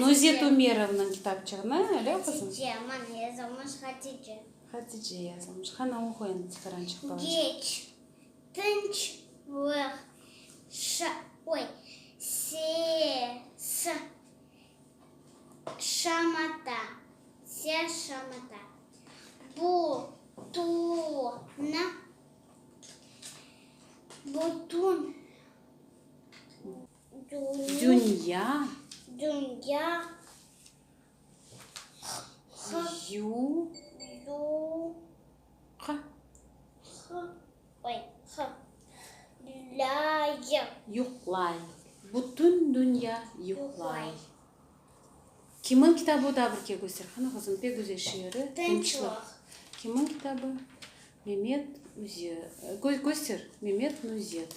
Nuzet Ümerovnıñ kitapçığını, öyle qızım? Hatice, mana yazılmış Hatice. Hatice yazılmış. Qana, oqu endi tikarançıq balacıq. Geç, tınçlıq, şa, oy, se, sı, şamata, se, şamata, bu, tu, nı, butun, Dünya, yuqlay. Bütün dünya yuqlay. Kimniñ kitabı o da bir ke köster. Qani, qızım, pek güzel şiiri. Tınçlıq. Kimniñ kitabı? Memet Üze, köster, Memet Nuzet.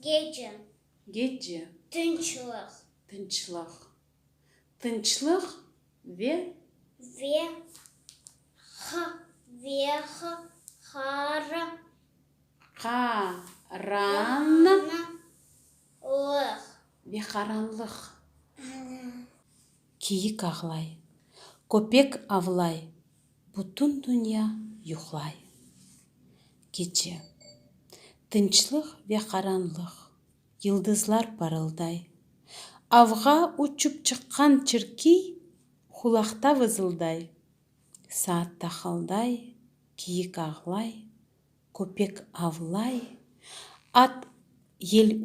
Gece. Gece. Tınçlıq. Tınçlıq. Tınçlıq ve. Ve ha ve ha hara. Qaran. Na lıq. Ve qaranlıq. Kiyik ağlay. Köpek avlay. Bütün dünya yuqlay. Keçe. Tınçlıq ve qaranlıq. Yıldızlar parılday. Avğa uçıp çıqqan çirkiy Hulaqta vızılday. Saat taqılday, kiyik ağlay, Köpek avlay, at yel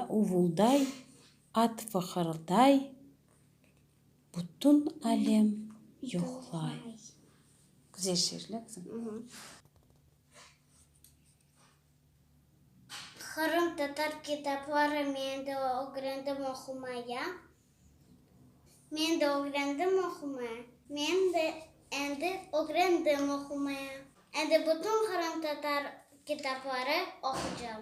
uvulday, At fıqırday. Bütün alem yoqlay. Güzel şiir, lâ qızım? Qırım tatar kitapları men de ögrendim oqumaya. Men de ögrendim oqumaya. Men de endi ögrendim oqumaya. Endi bütün qırımtatar kitapları oqucam.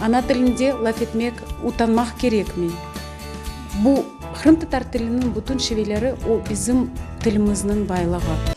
Ana tilinde laf etmek utanmaq kerekmi? Bu, qırımtatar tiliniñ bütün şiveleri, o, bizim tilimizniñ baylığı.